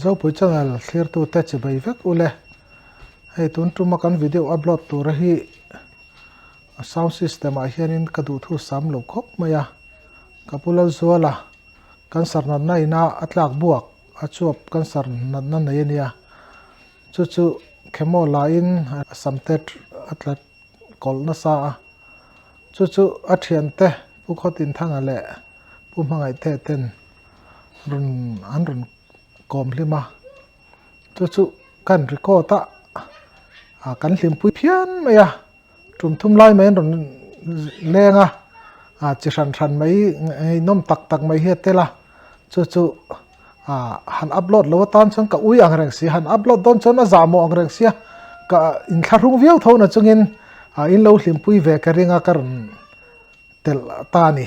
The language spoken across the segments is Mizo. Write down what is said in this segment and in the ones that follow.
Zopuii channel thlir tu te chibai vek u le hei tun tuma kan video upload tura hi sound system ah hian in ka duh thu sam lo khawp mai a ka pu lal zual a kan sar nat na ina a tlak buak a chuap kan sar nat na nei ania chu chu khemaw la in a sam te a tlat kawl na sa a chu chu a thian te pu khaw tin thanga leh pu hmangaih te ten an rawn kawm hlim a chu chu ka han record a a kan hlimpui phian mai a tum thum lai mai an rawn leng a a chi hran hran mai ngeihnawm tak tak mai hi a tel a chu chu a han upload loh atan chuan ka ui ang reng si a han upload dawn chuan a zah mawh ang reng si a ka in thla hrung viau tho na chungin in lo hlimpui ve ka ring a ka rawn telh ata a ni.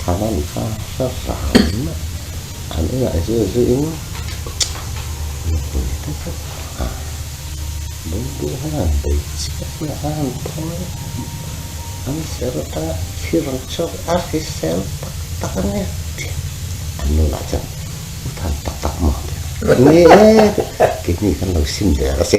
thana ni tha tha ta in an ingaih zui zui in nupui te pawh a ding ding hian an bei chiah chiah a an thawi an serh atanga thil ang chauh a hrisel tak tak ania tih an nu lah chuan u than tak tak maw tih a ni e kehni kan lo sim der a si.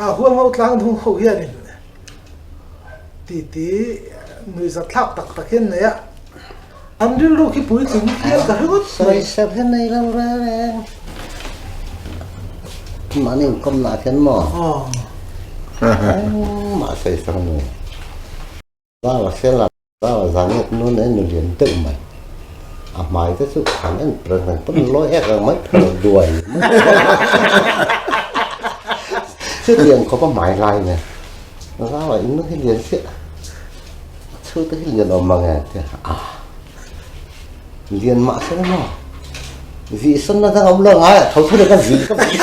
A huam ho tlang dung ho hian in titi nui zat thlak tak tak hian nei a, an rilru khi puitling hian ka hre ngawt mai. Sawisat hian nei lo reng. Mahni in kom lah hian maw? Aw. Engmah sawisat a ni. Banga senga banga zanget nun a en a lian deuh mai. A hmai te chu han en pret mai. Pawn a lawi ek ang mai phel a duai mai. Chu lian khawp a hmai lai nen. Zau a in hi lian chiah. Chhu te hi lian awm mang e tia. A. Lian mah se maw. Zih san na dang awm lo ngai a tho thur e ka zih ka zih.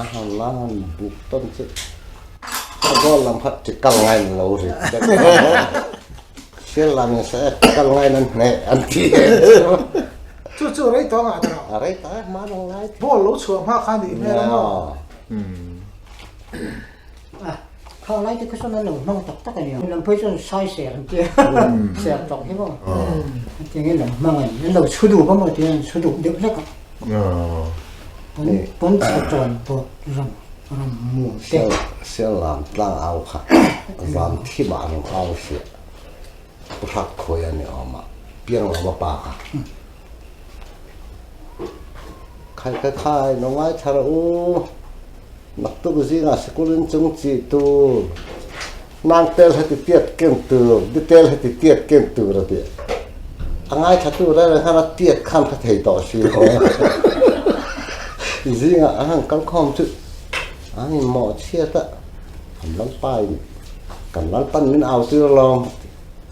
a han la a han buk tawn che ka zawh lam kha ti kal ngai in lo ri tek hriat lam in se ti kal ngai in an hneh an ti e chu chu rei tawh ang ah tawh a rei tawh e hmanung lai thin ball lo chhuah hma kha nih hmel ang aw. A khau lai te kha sawn an lo hmang tak tak a ni. Lam pui chuan sai ser an tia ser tawk hi maw tia nge lam hmang a ni an lo chhu dup a maw tia an chhu dup deuh hlek a ni pawn a chawn pawh ram ram mu te sel lam tlang au kha zam thim ah an lo au si a pu hrak khawi a ni awm a piang lo a pa kha. Khai khai khai lo ngai thar a u. Naktuk zingah sikul in chung chi tur, nang tel he ti tiat ken tur, ni tel he ti tiat ken tur a ti. A ngai thatu reng reng khan a tiat khan kha thei tawh si lo. Zingah a han kal khawm chu an in mawh chhiat a, an lalpa in kan lalpan min au tir lawm.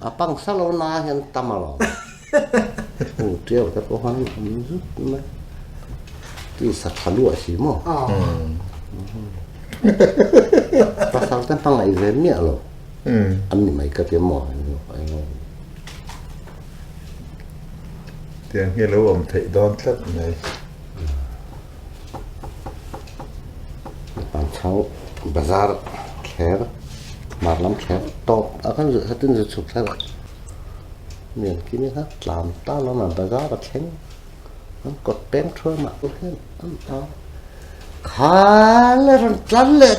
A pangsa lo na hian tam a lo. Aw tiau te pawh han awm zut mai. Tisa tha luah si maw? Pasal te hmangaih ve miah lo. An ni mai ka ti maw? Tiang hi a lo awm theih dawn tlat mai. An thau bazar kher mar lam kher tawp a kan zut hatin zut chhuk thar mi an kini kha tlam ta lo na bazar a thleng an kawt peng thuam ah khaw hian an au khal a rawn tlan leh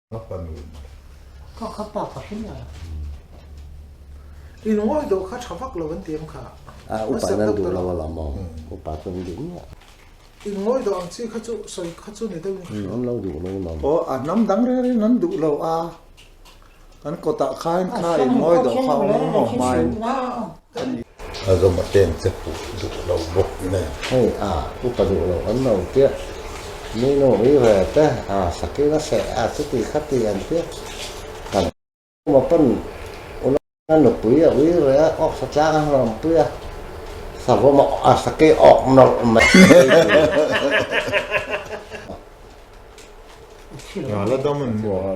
A pa nu maw? Ka ka pa pahrin a. In ngawi dawh kha tha vak lo an ti ang kha. A upa nan duh lo alam aw. Upa chu an duh miah. In ngawi dawh ang chi kha chu sawi kha chu ni deuhin ka hria. An lo duh lo alam. Aw a hnam dang rengin an duh lo a. Kan kawtah khain kha in ngawi dawh kha awm ang maw hmain. A zawm a pen che puh duh lo bawk nen. Hei a, upa duh loh an lo tiah minu rive te a sakin a seh a, chuti kha ti an ti a. Kan awma pawn Unau nupui a ui ve a, awk satlang a hnawm pui a, savawm a awh a, saki a awk nawrh mai a tih a ti a. Laladaman maw?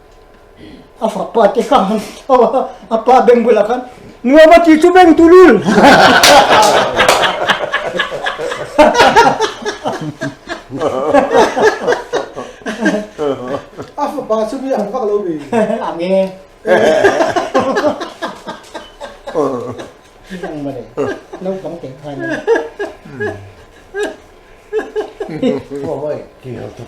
a fapa te kha han tho a a pa beng bulah khan nuam a ti chu beng tu lul a fapa chu mi ang vak lo mi ang e ang ma le no pang te khan Ôi, kỳ hợp thực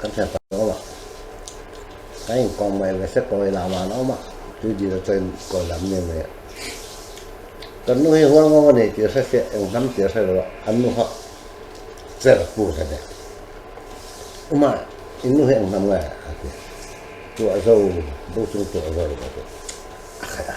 Kan hriat tak lo ava, ka inkawm mai ve se pawh i lam a awm a, tui dil a chawi kawi lam nge mai a, kan nu hi hual ngawng a nei tirhre se eng hnam tirhre lo a, an nu hak cher a pu hle deuh, uma in nu hi eng hnam nge a ti a, tuahzau, bu chung tuahzau a ti a, a khaih a.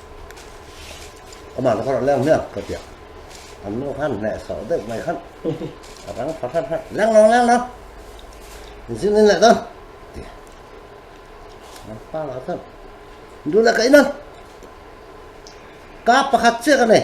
Ama ka rawh leng miak ka tia. An nu khan hne so deuh mai khan. A rang pha pha pha. Leng lo leng lo. Zin in leh don. Tia. An pa lah khan. Du la ka in an. Ka pakhat chiak a nei.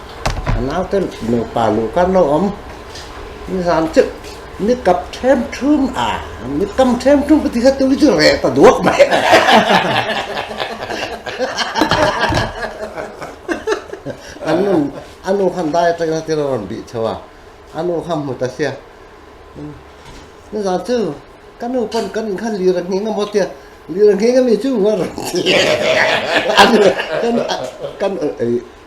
a nau ten nupa luh karna a awm ni zan teuh ni kap ṭhem ṭhum a ni kam ṭhem ṭhum ka tih kha tui chu reh ta duak mai a a nu a nu kha dai aṭang in a thil a rawn bih chho a a nu kha hmu ta sia ni zan chu ka nu pawn kan in khan lira ngheng a maw tia lira ngheng ami chu ngawt reng a ni kan kan ei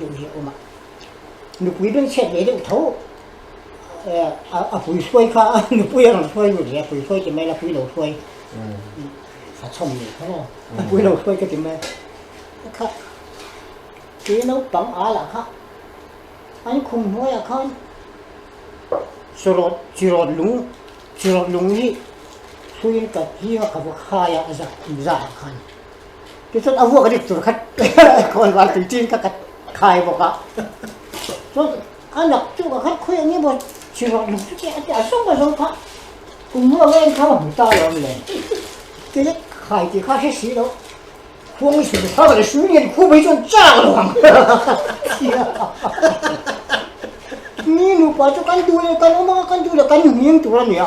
deuh hi a awm a, nupui rawn chhiat ve deuh tho a pui hruai kha a nupui a rawn hruai lut ve, pui hruai ti mai la pui lo hruai a chhawm leh kha lo, a pui lo hruai ka ti mai a kha tui naupang a lah kha an khum hnuai ah khan chawrawt chirawt lung chirawt lung hi hruiin ka hi a ka va khai a a za kum zah ah khan. Tichuan a vuak a dik tur khat khawi val tui chin kha ka khai bawk a, chuan a nâk chu ka khatkhawi a nih maw chhirawk lam chu tih a tia zawng a zawng kha kum ruak reng kha ka hmu ta lo nen kei lek khai tih kha a hre si lo khuang i sulh kha ka la hrui nen khup hi chuan chak lo ang ni nupa chu kan duh leh kan awm ang a kan duh leh kan hniang tur a nia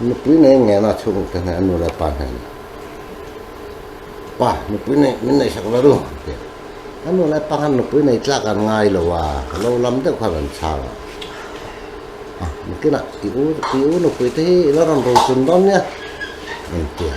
nupui nei ngena a chhung ute hneh a nu leh pa hnena pa nupui nei min nei sak lallu a ti a a nu leh pa khan nupui nei tlak an ngai lo a lo lam deuh khan an chhang a a biakin ah i u i u nupui te hi i lo rawn ro chun dawn nia a inti a.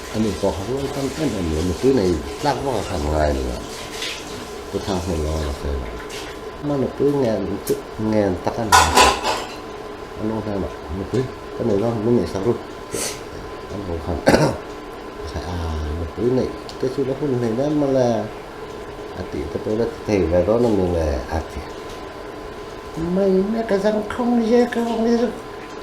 A nih pawh ka ruai tam em em lo, nupui nei tlak vak a han ngai lo a, Pu Thang hmun lo a la fel a, ama nupui ngen chik ngen tak a ni a, a lu hnem ah, Nupui, ka nei lo, min neihsak ru tih an ho khan Pathaih a, nupui neih te chu ka hun hmel em mawlh e, a tih te pawh i la ti thei ve dawn a ni le a ti mai mek a zangthlum ni e ka rawng hi chu.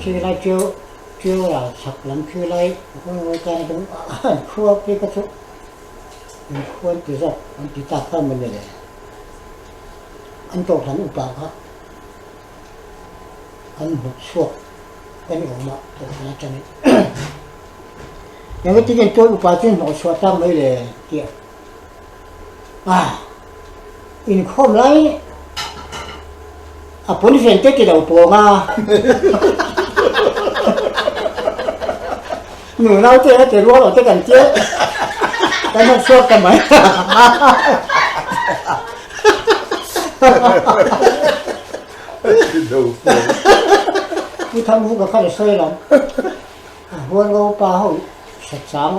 Khilai chu chu rau chhak lam khilai hun ngawi tan a dum a an khual phei ka chu an khual ti zawk an ti ta kha mawni le an tawp lam upah kha an mut chhuak ka ni awm a tawp lam atangin engtin an tuan upah chu an hnawh chhuah tak mai le tih a a inkhawm lai a pawn vel te tilo pawng a nu nau te te rual o te kan tia kan hak suak ka mai pu tham hu ka kha le soi lam huan go pa ho sa chang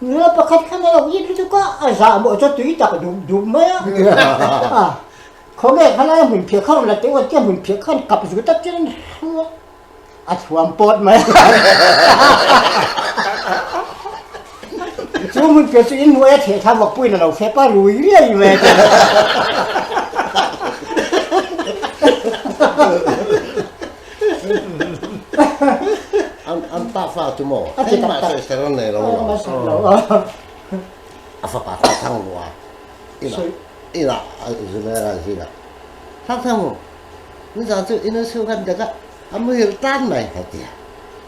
Nula pakhat khan a lo it lutuk a, a zah mawh chu tui tak dup dup mai a, a khawge kha laia hmun phiah kha rawn la teh uat chiah a hmun phiah kha an kap zu tak chuan a thuam pawt mai a, chu hmun phiah chu in hnuaia theh thla vak puiin a lo fep a, rui riai mai a chuan a. An pa fa chu maw? A ti tak tak. Ser an nei lo lo. Maw ser lo a. A fapa thang thang bu a. Ina, ina a Zumera an zing a. Thang thang bu, nizan chu i nuisung han dek a, a muhil tan mai a ti a.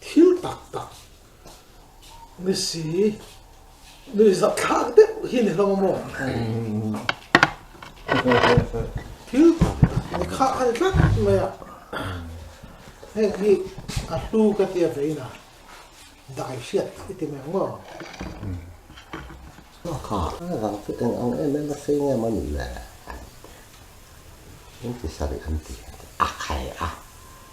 Thil tak tak ni si ni zat thlak deuh hi ni hlawm a maw? Thil tak tak ni khah a ni tlat mai a. Heng hi a hlu ka tia vein a dai hriat ta i ti mai ang maw? Ka zang chu eng ang em em a sei ngam a nih le? Engtisarih an ti? a khai a.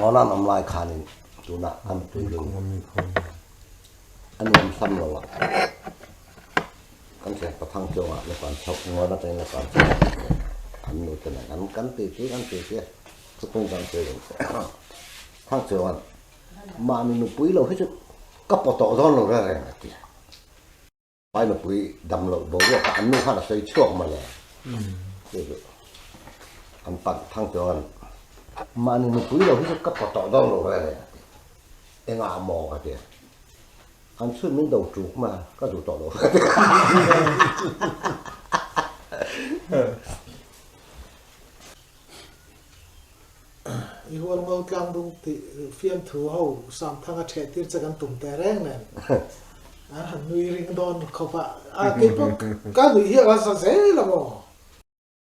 Nona an awm lai khanin tuna kan puihin a nuam hlam lo a, kan thian pathang chuang ah nupa an chho, Nona te nupa an chho sak che, an nu te nen an kan titi kan titi a, khuttung kan sawi reng che a, thang che chuan mahni nupui lo hi chu ka paw tawh zawn lo reng reng a ti a. Pai nupui dam loh boruak ah an nu khan a sawi chhuak mawle. Tih hi an panh thang chuan, mahni nupui lo hi chu ka paw tawh dawn lo reng e, a ti. Engah maw? ka ti a. An chhun min do tuk ma, ka duh tawh lo ka ti a. I hual ngo tlang dung tih fiamthu ho Samthanga thehtir che kan tum teh reng nen. An han nui ring dawn khawp a. Kei pawh ka nuih hi a rasa zel ang aw.